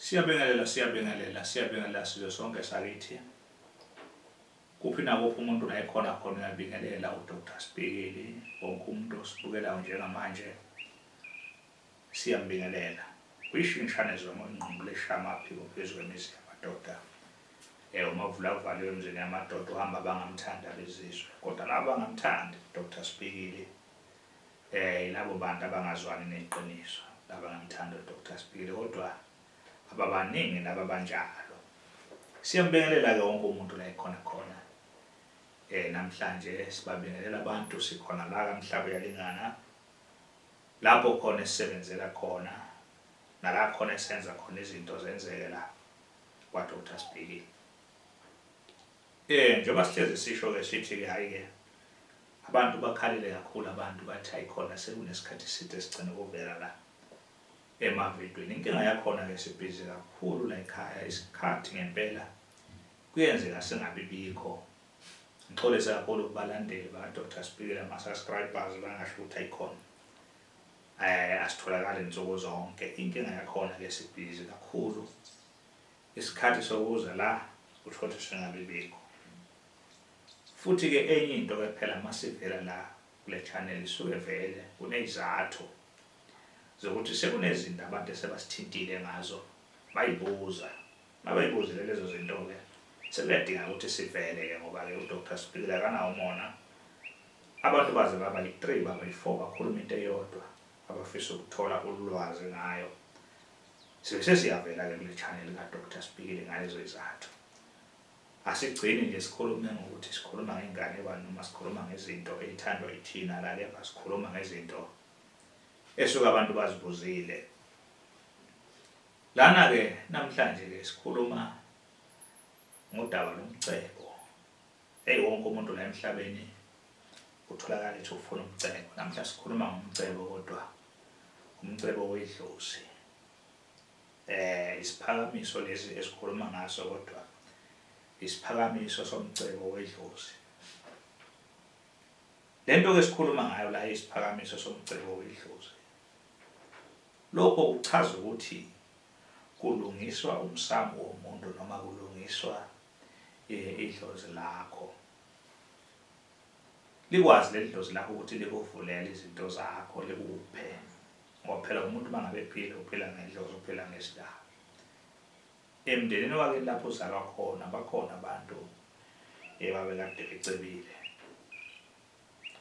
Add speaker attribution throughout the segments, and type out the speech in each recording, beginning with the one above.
Speaker 1: Siyabingelela, siyabingelela, siyabingelela sizwe sonke sakithi. Kuphi nakuphi umuntu la ekhona khona uyabingelela uDr Sibhekeli, wonke umuntu osibukelayo njengamanje siyambingelela. Uyishingishane zoma ingqondo leshama phiko phezu kwemizi yamadoda. Eh umavula avaliwe emzini yamadoda uhamba abangamthandi abezizwe. Kodwa laba bangamthandi uDr Sibhekeli. Eh yilabo bantu abangazwani neqiniso laba ngamthanda uDr Sbili kodwa ababaningi laba abanjalo. Siyambingelela ke wonke umuntu la ekhona khona. Eh namhlanje sibabingelela abantu sikhona la kamhlaba uyalingana. Lapho khona esisebenzela khona nala khona esenza khona izinto zenzeke la kwa Dr Sbili. Eh njengoba sihlezi sisho ke sithi ke hayi ke abantu bakhalile kakhulu abantu bathi hayi khona sekunesikhathi eside sigcine ukuvela la emavidweni inkinga yakhona ke sibhizi kakhulu la ekhaya isikhathi ngempela kuyenzeka singabi bikho ngixolisa kakhulu kubalandeli ba Dr Sibhikile ama subscribers bangasho ukuthi ayikhona eh asitholakali nsuku zonke inkinga yakhona ke sibhizi kakhulu Isikhathi sokuza la kuthothoswe ngabibikho. Futhi ke enye into ke phela masivela la kule channel isuke vele kunezathu zokuthi sekunezinto abantu esebasithintile ngazo bayibuza. Mabayibuzile lezo zinto ke sekuyadinga ukuthi sivele ke ngoba ke uDr Sibhikila akanawo umona. Abantu baze baba yi-3 baba yi-4 bakhuluma into eyodwa abafisa ukuthola ulwazi ngayo. Sibe sesiyavela ke kule channel ka Doctor Sibhikile ngalezo izathu. Asigcini nje sikhulume ngokuthi sikhuluma ngengane bani noma sikhuluma ngezinto ezithandwa yithina la kepha sikhuluma ngezinto esuke abantu bazibuzile. Lana ke namhlanje ke sikhuluma ngodaba lomcebo. Hey wonke umuntu la emhlabeni utholakala ethi ufuna umcebo. Namhla sikhuluma ngomcebo kodwa umcebo wedlozi. Eh isiphakamiso lesi esikhuluma ngaso kodwa isiphakamiso somcebo wedlozi. Lento ke sikhuluma ngayo la isiphakamiso somcebo wedlozi. Lokho kuchaza ukuthi kulungiswa umsamo womuntu noma kulungiswa idlozi lakho. Likwazi leli dlozi lakho ukuthi likuvulele izinto zakho likuphe ngoba phela umuntu uma ngabe ephila uphila ngedlozi uphila ngesidaba emndenini wake lapho uzalwa khona bakhona abantu ebabekade becebile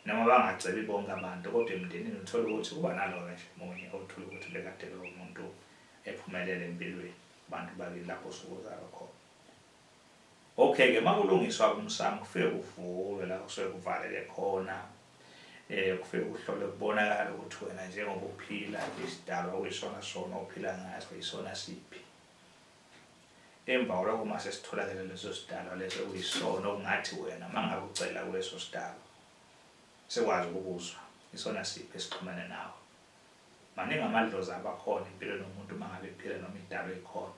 Speaker 1: noma bangacebi bonke abantu kodwa emndenini uthole ukuthi kuba nalowo nje munye othole ukuthi bekade lowo muntu ephumelele empilweni abantu bakini lapho sokuzalwa khona Okay ke makulungiswa umsamo kufike kuvulwe la kusuke kuvaleke khona eh kufike kuhlole kubonakala ukuthi wena njengoba uphila isidalwa uyisona sona uphila ngaso isona siphi emva kwalokho uma sesitholakele leso sidalwa leso kuyisona okungathi wena uma ngabe ucela kuleso sidalwa sekwazi ukubuzwa isona siphi esixhumene nawe maningi amadlozi abakhona impilweni yomuntu uma ngabe ephila noma idalwa ekhona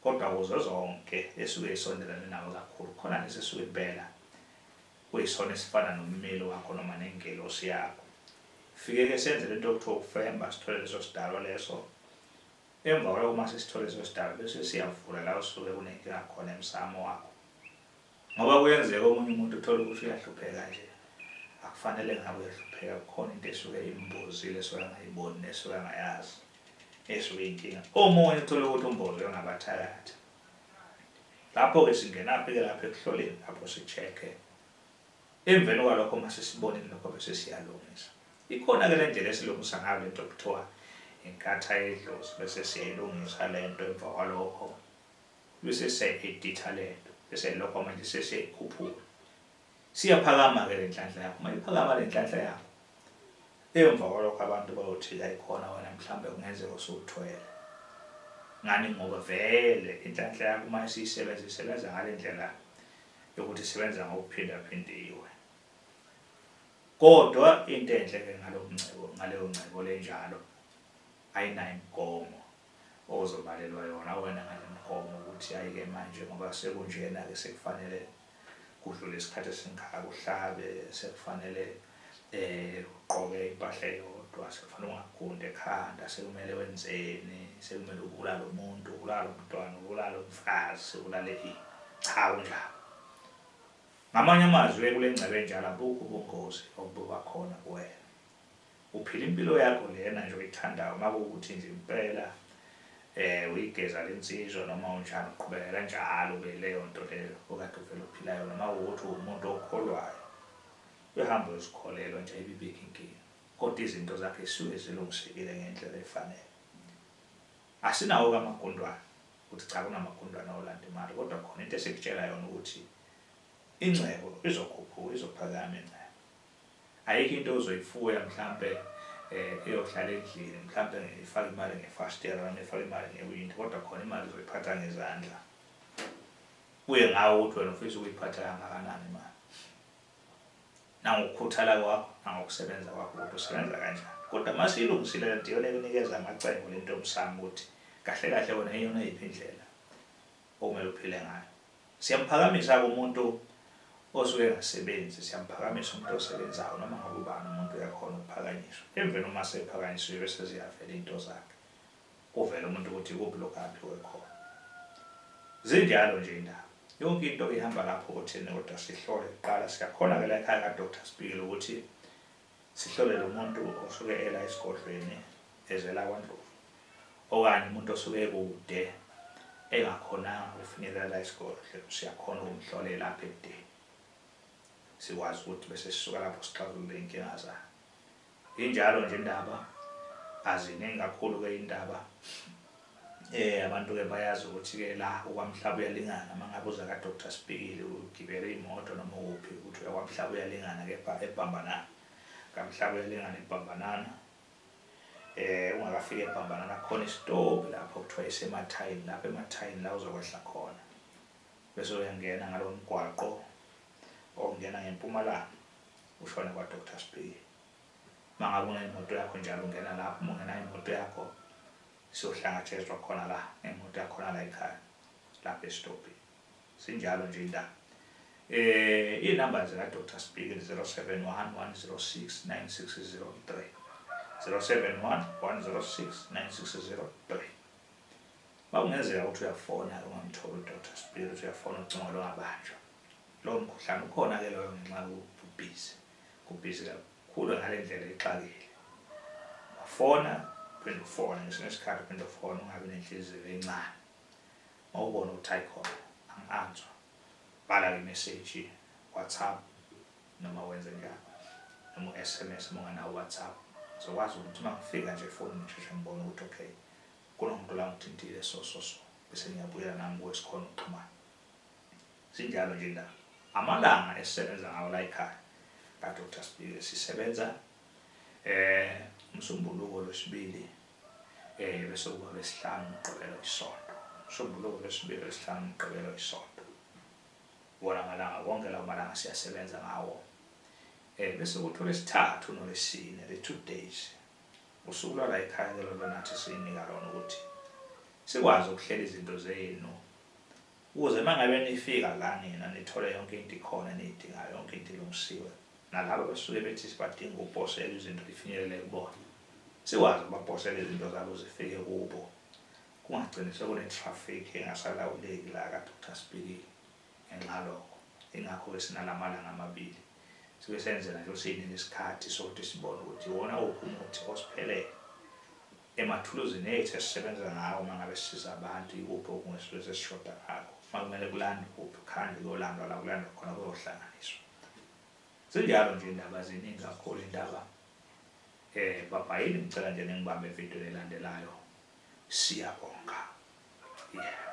Speaker 1: Kodwa kuzo zonke esuke isondelane nawe kakhulu, khona lesi esuke impela kuyisona esifana nommeli wakho noma nengelosi yakho. Fike-ke senze le nto okuthiwa ukufemba, sithole leso sidalwa leso. Emva kwaloko uma sesithole leso sidalwa bese siyavula la osuke kunenkinga khona emsamo wakho. Ngoba kuyenzeka omunye umuntu uthole ukuthi uyahlupheka nje, akufanele ngabe uyahlupheka, kukhona into esuke imbozile esuke angayiboni nesuke angayazi esuke inkinga. Omunye uthole ukuthi umbozwe ngabathakathi. Lapho-ke singenaphi-ke lapho ekuhloleni lapho si-check-e. Emveni kwalokho uma sesibonile lokho bese siyalungisa. Ikhona-ke le ndlela esilungisa ngayo le nto okuthiwa inkatha yedlozi bese siyayilungisa le nto emva kwalokho. Lusese editha lento bese lokho manje sese khuphula. Siyaphakama ke lenhlanhla yakho. Uma iphakama lenhlanhla yakho. Emva kwalokho abantu bayothi ayikhona wena mhlambe kungenzeka usuthwele. Ngani ngoba vele inhlanhla yakho uma isisebenza isebenza ngalendlela yokuthi isebenza ngokuphinda phindiwe. Kodwa into enhle ke ngalomncebo ngaleyo ncebo lenjalo ayinayo imigomo ozobalelwa yona wena ngale mgomo ukuthi ayike manje ngoba sekunjena-ke sekufanele kudlule isikhathi esingaka kuhlabe sekufanele um ugqoke impahla eyodwa sekufanele ungagundi ekhanda sekumele wenzeni sekumele ubulale umuntu ubulale umntwana ubulale umfazi ubulale ini cha kunjalo ngamanye amazwi kule ngcebo enjalo abukho ubungozi obuba khona kuwena Uphila impilo yakho lena nje oyithandayo makuwukuthi nje impela uyigeza lensizwa noma unjani uqhubeka kanjalo ke leyonto leyo okade uvele uphila yona makuwukuthi uwumuntu okholwayo uyahamba uyozikholelwa nje ayibibikho inkinga kodwa izinto zakhe zisuke zilungisekile ngendlela efanele. Asinawo kamagundwana ukuthi cha kunamagundwana olanda imali kodwa khona into esikutshela yona ukuthi ingcebo izokhuphuka izophakama ingcebo Ayikho into ozoyifuya mhlampe eyohlala endlini mhlampe ngifake imali ngefasitela noma ngifake imali ngewindi kodwa khona imali uzoyiphatha ngezandla. Kuye ngawe ukuthi wena ufisa ukuyiphatha kangakanani imali. Nangokukhuthala kwakho nangokusebenza kwakho ukuthi usebenza kanjani. Kodwa uma siyilungisile lento iyona ekunikeza amacebo lento yomsamo ukuthi kahle kahle wena iyona yiphi indlela okumele uphile ngayo. Siyamphakamisa-ke umuntu osuke engasebenzi, siyamphakamisa umuntu osebenzayo, noma ngabe ubani umuntu uyakhona ukuphakanyiswa. Emveni uma sephakanyisiwe bese ziyavela izinto zakhe, kuvele umuntu ukuthi ikuphi lokhu aphiwe khona. Zinjalo nje iy'ndaba. Yonke into ihamba lapho otheni kodwa sihlole kuqala. Siyakhona-ke layikhaya kaDoctor Sibhikila ukuthi Sihlole lo muntu osuke ela esigodlweni ezela kwaNdlovu okanye umuntu osuke ekude engakhonanga ukufinyelela la esigodlo, siyakhona ukumhlolela apha ebudeni. Sikwazi ukuthi bese sisuka lapho sixazulule iy'nkinga zakhe. Injalo nje indaba, aziningi kakhulu-ke iy'ndaba. Eh abantu ke bayazi ukuthi ke la ukwamhlaba uyalingana mangabe uza ka Doctor Sibhikili ugibele imoto noma ukuphi ukuthi uya kwamhlaba uyalingana kepha ebhambanana kamhlaba uyalingana ebhambanana eh ungakafika ebhambanana khona isitopi lapho kuthiwa isemathayini lapho emathayini la uzokwehla khona bese uyangena ngalo mgwaqo ongena ngempumalanga ushone kwa Doctor Sibhikili mangabe unemoto yakho njalo ungena lapho ungena imoto yakho Siyohlangatshezwa khona la ngemoto yakhona la ekhaya lapha esitobhini. Sinjalo nje indaba. Eh inumber zika Doctor Spikili 0711069603. 0711069603. Makungenzeka ukuthi uyafona ke ungamtholi uDr Spikili uthi uyafona ucingo longabanjwa. Lowo mkhuhlane ukhona ke loyo ngenxa yokuthi ubhizi. Kubhizi kakhulu. Khula ngale ndlela ixakile. Ungafona uphinde ufone ngesinye isikhathi uphinde ufone ungabi nenhliziyo encane. Uma ubona ukuthi ayikhona angi-answa bhala ke imeseji WhatsApp noma wenze njani noma u-SMS uma unganawo WhatsApp ngizokwazi ukuthi uma ngifika nje efonini ngisheshe ngibone ukuthi okay kunomuntu la ngithintile so so so bese ngiyabuyela nami kuwe sikhona ukuxhumana Zinjalo nje indaba. Amalanga esisebenza ngawo la ekhaya ka Doctor Sibike sisebenza eh umsombuluko lwesibili eh bese kuba lesihlanu umgqibelo isonto. Umsombuluko lwesibili lesihlanu umgqibelo isonto. Wona amalanga wonke lawo malanga siyasebenza ngawo. Eh bese kuthi olesithathu nolesine le two days. Usuku lwala ekhaya ke lona nathi sinika lona ukuthi sikwazi ukuhlela izinto zenu Ukuze uma ngabe nifika la nina nithole yonke into ikhona eniyidingayo, yonke into ilungisiwe, nalaba abasuke bethi sibadinga ukuposelwa izinto ifinyelele kubona, sikwazi ukubaposela izinto zabo zifike kubo, kungagcini sekune-traffic engasalawuleki la kade uthi asibikile ngenxa yalokho, yingakho-ke sinala malanga amabili, sibe senzela nje ukuthi sinike isikhathi sokuthi sibone ukuthi iwona uphi umuthi osiphelele. Emathuluzini ethu esisebenza ngawo uma ngabe sisiza abantu, ikuphi okungesilwe sesishoda ngakho? Uma kumele kulandwe, kuphi kuhanjwe kuyolandwa la kulandwa khona kuyohlanganiswa? Zinjalo nje indaba ziningi kakhulu indaba. Eh bhabhayini ngicela nje ningibambe evidweni elandelayo. Siyabonga. Yeah.